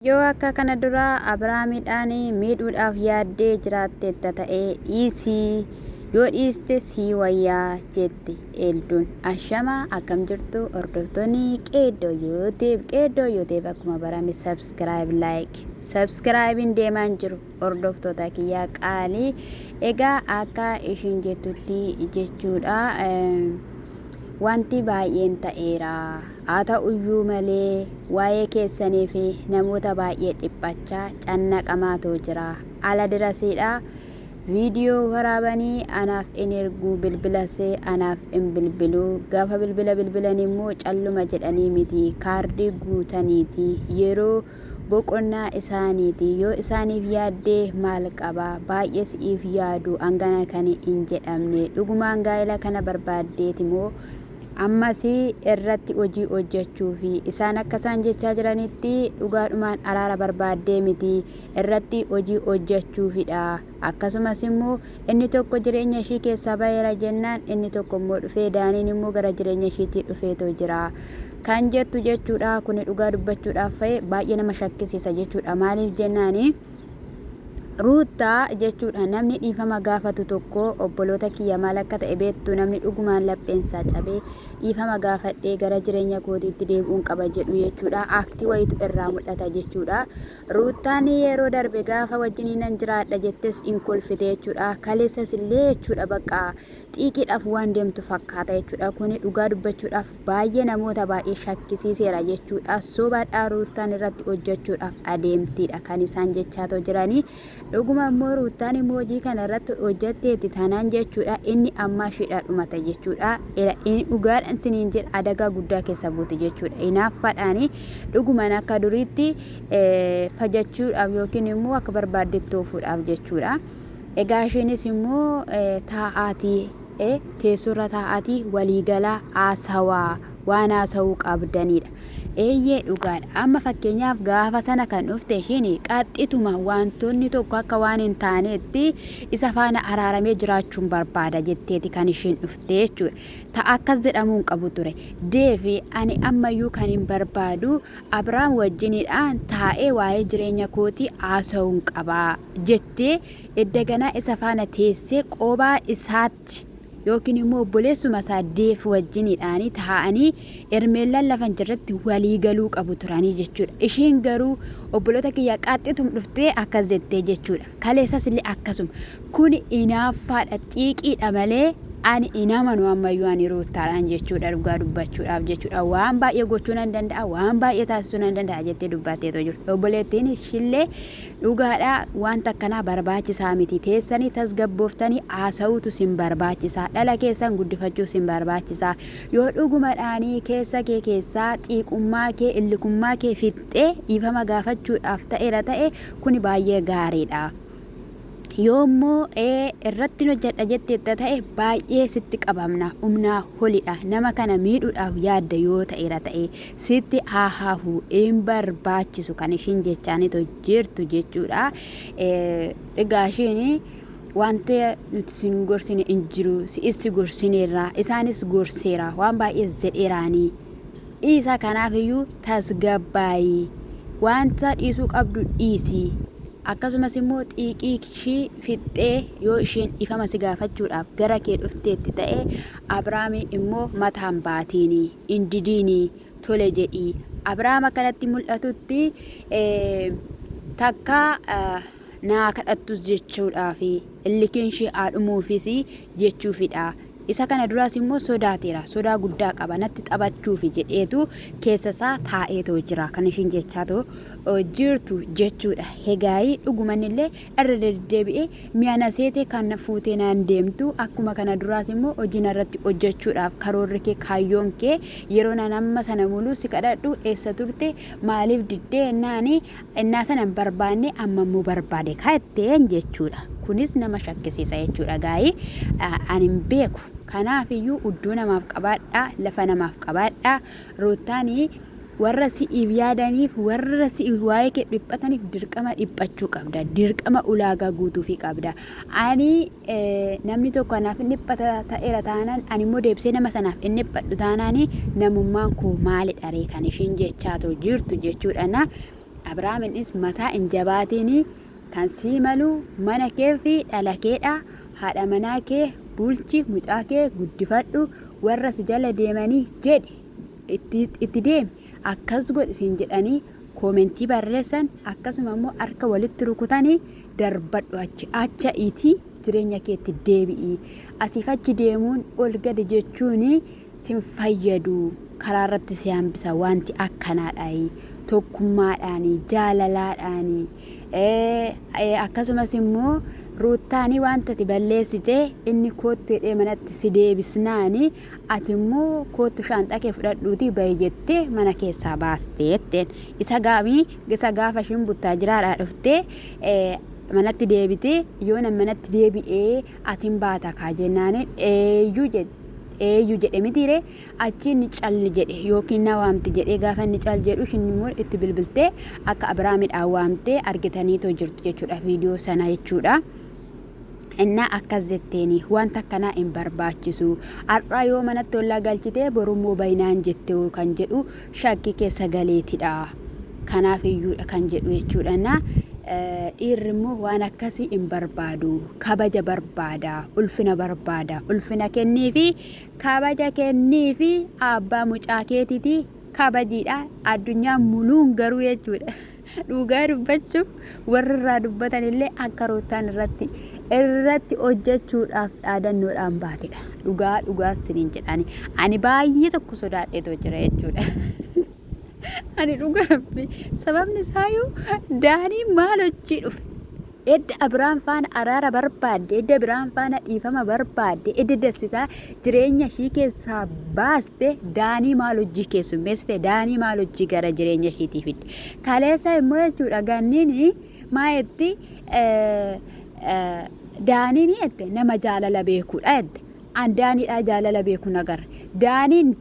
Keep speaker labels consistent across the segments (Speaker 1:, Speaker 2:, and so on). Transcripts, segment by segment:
Speaker 1: Yoo akka kana dura Abrahaamidhaan miidhuudhaaf yaaddee jiraatteetta ta'e dhiisi, yoo dhiiste sii wayya jette Eelduun. Ashama akkam jirtu hordoftoonni Qeeddoo Yuuteeb. Qeeddoo Yuuteeb akkuma barame subscribe like. Subscribe'n deemaan jiru. Hordoftoota kiyya qaalii egaa akka ishiin jettutti jechuudha wanti baay'een ta'eera haa ta'uyyuu malee waa'ee keessanii fi namoota baay'ee dhiphachaa cannaqamaatoo jira ala dirasiidha viidiyoo waraabanii anaaf in erguu bilbilasee anaaf in bilbiluu gaafa bilbila bilbilan immoo calluma jedhanii miti kaardii guutaniiti yeroo boqonnaa isaaniiti. Yoo isaaniif yaadde maal qaba? Baay'ee si'iif yaadu hangana kan hin jedhamne. Dhugumaan gaa'ela kana barbaaddeeti moo? Ammas irratti hojii hojjechuufi. Isaan akka isaan jechaa jiranitti dhugaadhumaan araara barbaaddee miti, irratti hojii hojjechuufidha. Akkasumas immoo, inni tokko jireenya ishii keessaa ba'eera jennaan, inni tokko immoo dhufee, Daaniin immoo gara jireenya ishiitii dhufeetoo jira. Kan jettu jechuudha. Kuni dhugaa dubbachuudhaaf fa'ee baay'ee nama shakkisiisa jechuudha. Maaliif jennaani? Ruuttaa jechuudha namni dhiifama gaafatu tokko obboloota kiyya maal akka ta'e beektu namni dhugumaan lapheensaa cabee dhiifama gaafadhee gara jireenya kootiitti deebi'uun qaba jedhu jechuudha. Aktii wayitu irraa mul'ata jechuudha. Ruuttaan yeroo darbe gaafa wajjinii nan jiraadha jettes in kolfite jechuudha. Kaleessas illee jechuudha bakka xiiqiidhaaf waan deemtu fakkaata jechuudha. Kuni dhugaa dubbachuudhaaf baay'ee namoota baay'ee shakkisiiseera jechuudha. Sobaadhaa ruuttaan irratti hojjechuudhaaf adeemtiidha kan isaan jechaatoo jiranii. Dhuguma immoo Ruuttaan immoo hojii kana irratti hojjatteetti taanaan jechuudha inni ammaa ishiidhaa dhumata jechuudha. Inni dhugaadhaan siniin jedha adagaa guddaa keessa buuti jechuudha. Inaaffaadhaan dhugumaan akka duriitti fajachuudhaaf yookiin immoo akka barbaaddetti oofuudhaaf jechuudha. Egaa ishiinis immoo taa'aatii teessurra taa'aatii waliigalaa haasawaa waan haasawuu qabdanidha. Eeyyee dhugaadha. Amma fakkeenyaaf gaafa sana kan dhufte ishiin qaxxituma wantoonni tokko akka waan hin taaneetti isa faana araaramee jiraachuun barbaada jetteeti kan ishiin dhufte jechuudha. Ta akkas jedhamuu hin qabu ture. Deevi ani ammayyuu kan hin barbaadu Abiraam wajjinidhaan taa'ee waa'ee jireenya kootii haasa'uun qabaa jettee edda ganaa isa faana teessee qobaa isaatti yookiin immoo obboleessuma isaa deef wajjinidhaanii taa'anii ermeellaan lafa hin jirretti walii galuu qabu turanii jechuudha. Ishiin garuu obboloota kiyya qaxxitum dhuftee akkas jettee jechuudha. Kaleessas illee akkasuma. Kuni inaaffaadha xiiqiidha malee ani hin amanu ammayyuu ani ruuttaadhaan jechuudha dhugaa dubbachuudhaaf jechuudha. Waan baay'ee gochuu nan danda'a waan baay'ee taasisuu nan danda'a jettee dubbatteetoo jirti. Obboleettiin ishillee Dhugaadha waanti akkanaa barbaachisaa miti. Teessanii tasgabbooftanii haasa'uutu sin barbaachisa. Dhala keessan guddifachuu sin barbaachisa. Yoo dhugumadhaanii keessa kee keessaa xiiqummaa kee, illikummaa kee fixxee dhiifama gaafachuudhaaf ta'eera ta'e kuni baay'ee gaariidha. Yoommoo ee irrattin hojjedha jetteetta ta'e baay'ee sitti qabamna. Humnaa holidha. Nama kana miidhuudhaaf yaadda yoo ta'eera ta'e. sitti haa hafu hin barbaachisu kan ishiin jechaanito jirtu jechuudha. Egaa ishiin wanti nuti sin gorsine hin jiru si'is si gorsineerra isaanis gorseera waan baay'ees jedheeraanii dhiisa kanaafiyyuu tasgabbaa'ii wanta dhiisuu qabdu dhiisii akkasumas immoo xiiqii ishii fixxee yoo isheen ifama si gaafachuudhaaf gara kee dhufteetti ta'e Abrahaamii immoo mataan baatiinii. hin didiini tole jedhii Abrahaam akka natti mul'atutti takka naa kadhattus jechuudhaaf illikiin ishee haa dhumuufis jechuufidha. Isa kana duraas immoo sodaateera. Sodaa guddaa qaba. Natti taphachuuf jedheetu keessa isaa taa'eetoo jira. Kan ishiin jechaatoo jirtu jechuudha. Hegaayii dhuguman illee irra deddeebi'ee mi'a na seete kan na fuutee naan deemtu akkuma kana duraas immoo hojii narratti hojjechuudhaaf karoorri kee kaayyoon kee yeroo naan amma sana muluu si kadhadhu eessa turte maaliif diddee ennaani ennaa sana hin barbaanne amma immoo barbaade kaatteen jechuudha kunis nama shakkisiisa jechuudha gaa'ii ani hin beeku kanaaf iyyuu udduu namaaf qabaadhaa lafa namaaf qabaadhaa Ruuttaan warra si'iif yaadaniif, warra si'iif waa'ee kee dhiphataniif dirqama dhiphachuu qabda. Dirqama ulaagaa guutuufii qabda. Ani namni tokko anaaf hin dhiphata ta'eera taanaan, ani immoo deebisee nama sanaaf hin dhiphadhu taanaan namummaan koo maalidha ree kan ishiin jechaa too jirtu jechuudha. Na Abrahaaminis mataa hin jabaatiin kan sii malu mana kee fi dhala keedha. Haadha manaa kee bulchi, mucaa kee guddifadhu, warra si jala deemanii jedhi itti, itti deemi akkas godhi siin jedhanii koomentii barreessan akkasuma immoo harka walitti rukutanii darbadhu achi acha itii jireenya keetti deebi'i asiif achi deemuun ol gadi jechuun sin fayyadu karaa irratti si hambisa wanti akkanaadhaayi tokkummaadhaani jaalalaadhaani akkasumas immoo ruuttaanii wanta ati balleessite inni koottu jedhee manatti si deebisnaani ati immoo koottu shaanxaa kee fudhadhuutii bahi jettee mana keessaa baaste jetteen isa gaamii isa gaafa ishiin buttaa jiraadhaa dhuftee manatti deebitee yoo nan manatti deebi'ee atiin baata kaa jennaaniin eeyyuu jedhe eeyyuu jedhe mitiiree Achii inni calli jedhe yookiin na waamti jedhee gaafa inni cal jedhu ishiin immoo itti bilbiltee akka Abiraamidhaan waamtee argitaniitoo jirtu jechuudha viidiyoo sana jechuudha. Innaa akkas jetteeni wanta akkanaa hin barbaachisu har'aa yoo manatti ollaa galchitee borummoo bayinaan jette kan jedhu shakkii keessa galeetidha. Kanaaf iyyuudha kan jedhu jechuudha. Na dhiirri immoo waan akkasii hin barbaadu kabaja barbaada ulfina barbaada ulfina kenniifi Kabaja kenniifi abbaa mucaa keetiti kabajiidha addunyaa muluun garuu jechuudha dhugaa dubbachuuf warri irraa dubbatan illee akka ruuttaan irratti irratti hojjechuudhaaf dhaadannoodhaan baatedha dhugaa dhugaa siniin jedhaani ani baay'ee tokko sodaadheetoo jira jechuudha. ani dhugaa rabbi sababni isaayyuu daanii maal hojii dhufe Edda Abiraam faana araara barbaadde, edda Abiraam faana dhiifama barbaadde, edda dassitaa jireenya ishii keessaa baaste daanii maal hojii keessummeessite, daanii maal hojii gara jireenya ishiitii fidde. Kaleessa immoo jechuudha ganniin maa jetti daaniin jette nama jaalala beekuudha jette. An daaniidhaa jaalala beeku nagarre. Daaniin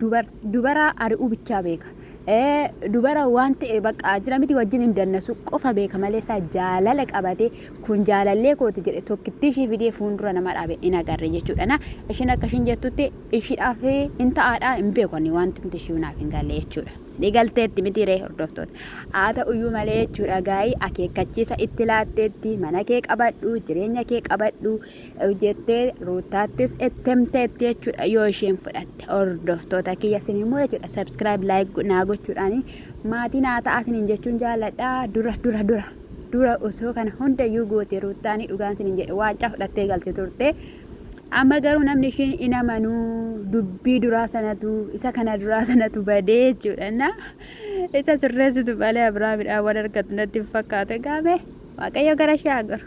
Speaker 1: dubaraa ari'uu bichaa beeka. ee dubara waan ta'e baqqaa jira miti wajjin hin dannasu qofa beeka malee isaa jaalala qabate kun jaalallee kooti jedhe tokkittii ishii fidee fuuldura nama dhaabe hin agarre jechuudha na ishiin akka ishiin jettutti ishiidhaaf hin ta'aadha hin beeku ani wanti miti ishii naaf hin galle jechuudha. Ni galteetti miti ree hordoftoota. Haa ta'uyyuu malee jechuudha gaa'ii akeekkachiisa itti laatteetti mana kee qabadhu jireenya kee qabadhu jettee ruuttaattis itti himteetti jechuudha yoo isheen fudhatte hordoftoota kiyya isin immoo jechuudha subscribe like naa gochuudhaan maatii naa ta'a isiniin jechuun jaalladha dura dura dura dura osoo kana hundayyuu goote ruuttaanii dhugaan isiniin jedhe waancaa fudhattee galte turte amma garuu namni ishiin hin amanuu dubbii duraa sanatu isa kana duraa sanatu badee jechuudha na isa sirreessitu malee abiraamidhaan waan argatu natti hin fakkaatu egaa mee waaqayyo gara ishee haa garu.